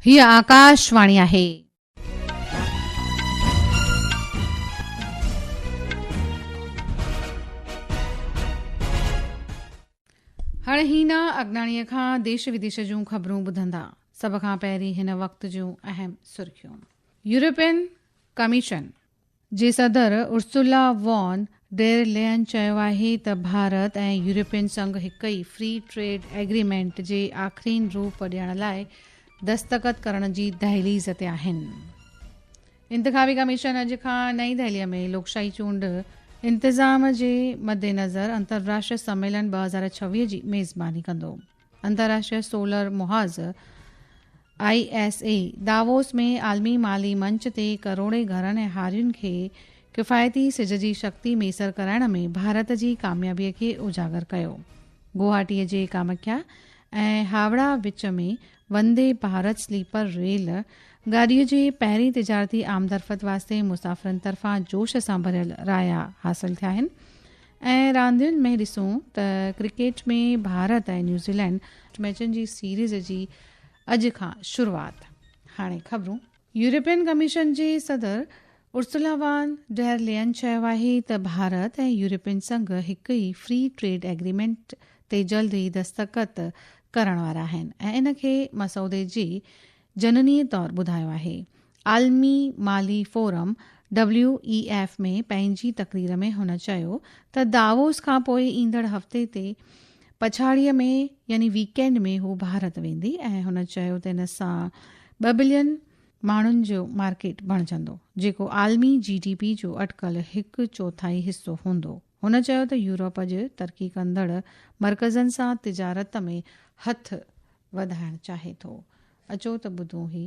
هيء آڪاش واڻي آهي. هاڻي هينا اڳناڻيء کان ديش وديش جون خبرون ٻڌندا. سڀ کان پهرين هن وقت جون اهم سرخيون. يورپين ڪميشن جي صدر ارسولا وان ڊير لين چيو آهي ته ڀارت ۽ يورپين سنگهه هڪ ئي فري ٽريڊ ايگريمينٽ جي آخرين روپ ڏيڻ لاء دستخط ڪرڻ جي دهليز تي آهن. انتخابي ڪميشن اڄ کان نئين دهلي ۾ لوڪشاهي چونڊ انتظام جي مدنظر انترراشٽري سميلن ٻه هزار ڇويهه جي ميزباني ڪندو. انترراشٽري سولر محاذ، آء ايس اي، داووس ۾ عالمي مالي منچ تي ڪروڙين گهرن ۽ هارين کي ڪفايتي سج جي شڪتي ميسر ڪرائڻ ۾ ڀارت جي ڪاميابي کي اجاگر ڪيو. گوهاٽي جي ڪامکيا ۽ هاوڙا وچ ۾ وندي ڀارت سليپر ريل گاڏي جي پهرين تجارتي آمدرفت واسطي مسافرن طرفان جوش سان ڀريل رايا حاصل ٿيا آهن. ۽ راندين ۾ ڏسون ته ڪرڪيٽ ۾ ڀارت ۽ نيوزيلينڊ ميچن جي سيريز جي اڄ کان شروعات هاڻي خبرون يورپين ڪميشن جي صدر ارسلا وان ڊير لين چيو آهي ته ڀارت ۽ يورپين سنگهه هڪ ئي فري ٽريڊ ايگريمينٽ تي جلد ئي دستخط ڪرڻ وارا آهن ۽ ان کي مسودي جي جنني طور ٻڌايو آهي عالمي مالي فورم، ڊبليو اي ايف، ۾ پنهنجي تقرير ۾ هن چيو ته داووس کان پوء ايندڙ هفتي تي پڇاڙيء ۾ يعني ويڪينڊ ۾ هو ڀارت ويندي ۽ هن چيو ته ان سان ٻه بلين ماڻهن جو مارڪيٽ بڻجندو جيڪو عالمي جي ڊي پي جو اٽڪل هڪ چوٿائي حصو هوندو. هن چيو ته يورپ اڄ ترقي ڪندڙ مرڪزن سان تجارت ۾ هٿ وڌائڻ چاهي ٿو. اچو ته ٻڌون هي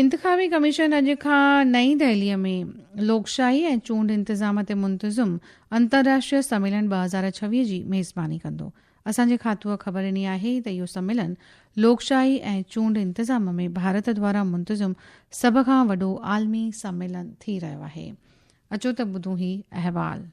انتخابي ڪميشن اڄ کان نئين دهليء ۾ لوڪشاهي ۽ چونڊ انتظام تي منتظم انترراشٽريه سميلن ٻه هزار ڇويهه جي ميزباني ڪندو. اسان جي کاتوء خبر ڏني آهي ته اهو سميلن لوڪشاهي ۽ چونڊ انتظام ۾ ڀارت دوارا منتظم سڀ کان وڏو عالمي سميلن ٿي رهيو آهي. اچو ته ٻڌون هي احوال.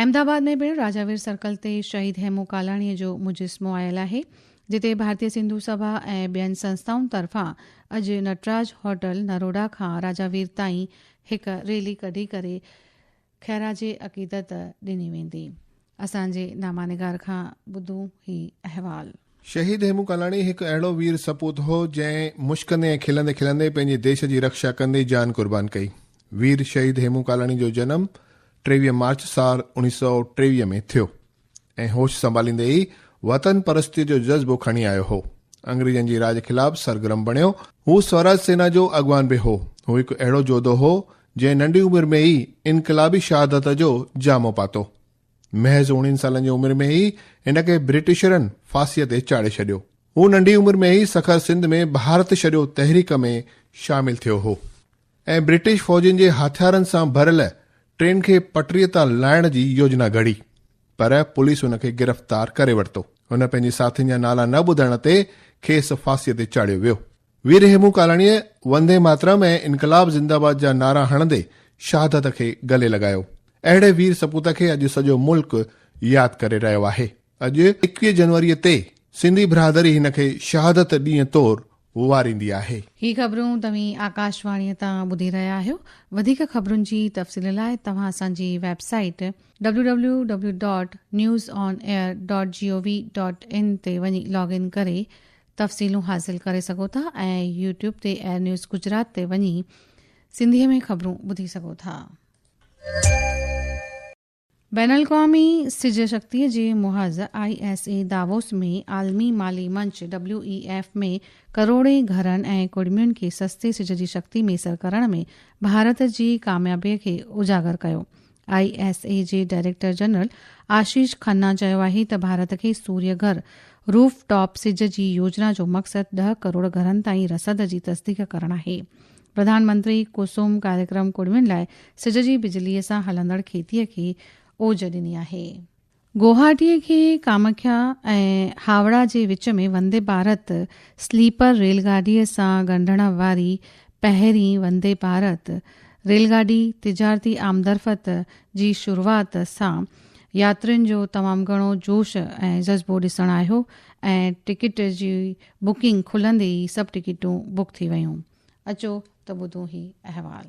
احمد آباد ۾ پڻ راجا وير سرڪل تي شهيد هيمو ڪالاڻي جو مجسمو آيل آهي، جتي ڀارتي سنڌو سڀا ۽ ٻين سنستائن طرفان اڄ نٽراج هوٽل نروڊا کان راجا وير تائين هڪ ريلي ڪڍي ڪري خيراج عقيدت ڏني ويندي. اسان جي نامانگار کان ٻڌو هي احوال. شهيد هيمون ڪالاڻي هڪ اهڙو وير سپوت هو، جنهن مشڪندي ۽ کلندي کلندي پنهنجي ديش جي رڪشا ڪندي جان قربان ڪئي. وير شهيد هيمون ڪالاڻي جو جنم ٽيويهه مارچ سال اوڻيهه سؤ ٽيويهه ۾ ٿيو ۽ هوش سنڀاليندي ئي وطن پرستيء جو جذبو کڻي آيو هو. انگريزن جي راڄ خلاف سرگرم بڻيو. هو سوراج سينا جو اڳواڻ به هو. هو هڪ اهڙو جوڌو هو، جنهن ننڍي عمر ۾ ئي انقلابي شهادت جو جامو پاتو. محض اوڻيهن سالن جي عمر ۾ ئي هن کي برٽشرن ڦاسيء تي چاڙهي ڇڏيو. هو ننڍي عمر ۾ ئي سکر سنڌ ۾ ڀارت ڇڏيو تحريڪ ۾ شامل ٿيو هو ۽ برٽش فوجين جي هٿيارن سان ڀريل ٽرين کي پٽڙيء تان لاهڻ جي يوجنا گهڙي پر پوليس هن کي گرفتار ڪري ورتو. هن پنهنجي ساٿين جا نالا نه ٻڌڻ تي کيس ڦاسيء تي چاڙهيو ويو. وير هيمون ڪالاڻيء وندي ماترم ۽ انقلاب زنده باد جا نعرا هڻندي شهادت کي گلي لڳايو. اهڙي وير سپوت کي اڄ سڄو ملڪ ياد ڪري رهيو آهي. اڄ ايڪويهه جنوريء تي سنڌي برادري هن کي شهادت ڏينهن طور واريندي آهي. هي خبرون توهين آڪاشواڻيء تان ٻڌي رهيا آهيو. وڌيڪ خبرن جي تفصيل لاء توهان اسان جي ويب سائيٽ www.newsonair.gov.in تي وڃي لاگ ان ڪري تفصيلون حاصل ڪري سگهو ٿا ۽ يوٽيوب تي ايئر نيوز گجرات تي وڃي سنڌي ۾ خبرون ٻڌي سگهو ٿا. بين الاقوامي سج شڪتي جي محاذ آء ايس اي داووس ۾ عالمي مالي منچ ڊبليو اي ايف ۾ ڪروڙين گهرن ۽ ڪڙمين کي سستي سج جي شڪتي ميسر ڪرڻ ۾ ڀارت جي ڪاميابي کي اجاگر ڪيو آء ايس اي جي ڊائريڪٽر جنرل آشيش کنا چيو آهي ته ڀارت کي سوري گهر روف ٽاپ سج جي يوجنا جو مقصد ڏهه ڪروڙ گهرن تائين رسد جي تصديق ڪرڻ آهي پرڌان منتري ڪسوم ڪاريڪرم ڪڙمين لاء سج جي بجلي سان هلندڙ کيتي کي اوج ڏني آهي گوهاٽيء کي ڪامکيا ۽ هاوڙا جي وچ ۾ وندي ڀارت سليپر ريل گاڏيء سان ڳنڍڻ واري پهرين وندي ڀارت ريل گاڏي تجارتي آمدرفت جي شروعات سان ياترين جو تمام گهڻو جوش ۽ جذبو ڏسڻ آيو ۽ ٽڪيٽ جي بڪنگ کلندي ئي سڀ ٽڪيٽون بڪ ٿي ويون. اچو ته ٻڌون هي احوال.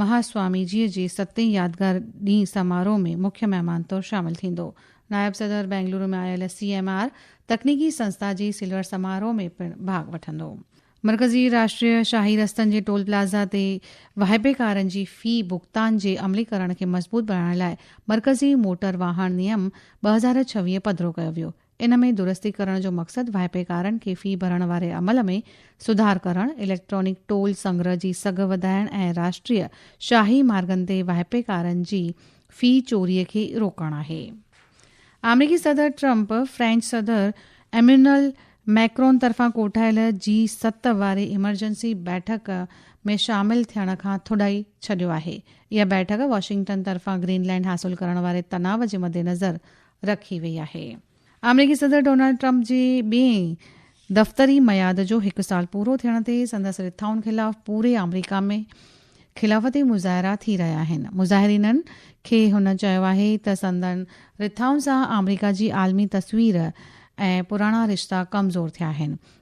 مهاسوامي جيء جي ستين يادگار ڏينهن سماروهه ۾ مکيه مهمان طور شامل ٿيندو. نائب صدر بينگلورو ۾ آيل سي ايم آر تڪنيڪي سنسٿا جي سلور سماروهه ۾ پڻ ڀاڳ وٺندو. مرڪزي راشٽريه شاهي رستن جي ٽول پلازا تي واهپيڪارن جي في ڀڳتان جي عملي ڪرڻ کي مضبوط بڻائڻ لاء مرڪزي موٽر واهڻ نيم ٻه هزار ڇويهه پڌرو ڪيو ويو. ان ۾ درستي ڪرڻ جو مقصد واهپيڪارن کي في ڀرڻ واري عمل ۾ سڌار ڪرڻ، اليڪٽرانڪ ٽول سنگرهه جي سگهه وڌائڻ ۽ راشٽريه شاهي مارگن تي واهپيڪارن جي في چوري کي روڪڻ آهي. آمريڪي صدر ٽرمپ فرينچ صدر ايميونل ميڪرون طرفان ڪوٺايل جي ست واري ايمرجنسي بيٺڪ ۾ شامل ٿيڻ کان ٿڏائي ڇڏيو آهي. اها بيٺڪ واشنگٽن طرفان گرين لينڊ حاصل ڪرڻ واري تناء جي مدنظر رکي وئي آهي. آمريڪي صدر ڊونلڊ ٽرمپ جي ٻئين دفتري ميعاد جو هڪ سال پورو ٿيڻ تي سندس رٿائن خلاف پوري آمريڪا ۾ خلافتي مظاهرا ٿي رهيا آهن. مظاهرينن کي هن چيو آهي ته سندن رٿائن سان آمريڪا جي عالمي تصوير ۽ پراڻا رشتا ڪمزور ٿيا آهن.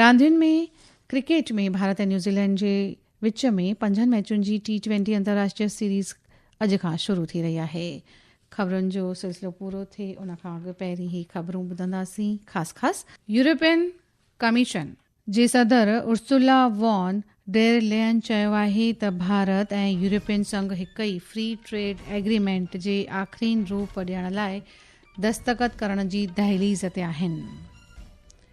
راندين ۾ ڪرڪيٽ ۾ ڀارت ۽ نيوزيلينڊ جي وچ ۾ پنجن ميچن جي ٽي ٽوئنٽي انترراشٽري سيريز اڄ کان شروع ٿي رهي آهي خبرن جو سلسلو پورو ٿئي ان کان اڳ پهرين هي خبرون ٻڌنداسين خاص خاص يورپين ڪميشن جي صدر ارسولا وان ڊير لين چيو آهي ته ڀارت ۽ يورپين سنگهه هڪ ئي فري ٽريڊ ايگريمينٽ جي آخرين روپ ڏيڻ لاء دستخط ڪرڻ جي دهليز تي آهن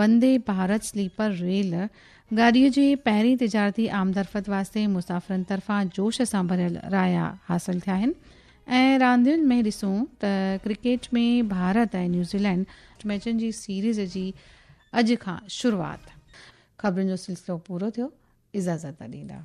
وندي ڀارت سليپر ريل گاڏيء جي پهرين تجارتي آمدرفت واسطي مسافرن طرفان جوش سان ڀريل رايا حاصل ٿيا آهن ۽ راندين ۾ ڏسون ته ڪرڪيٽ ۾ ڀارت ۽ نيوزيلينڊ ميچن جي سيريز جي اڄ کان شروعات خبرن جو سلسلو پورو ٿيو اجازت ڏيندا.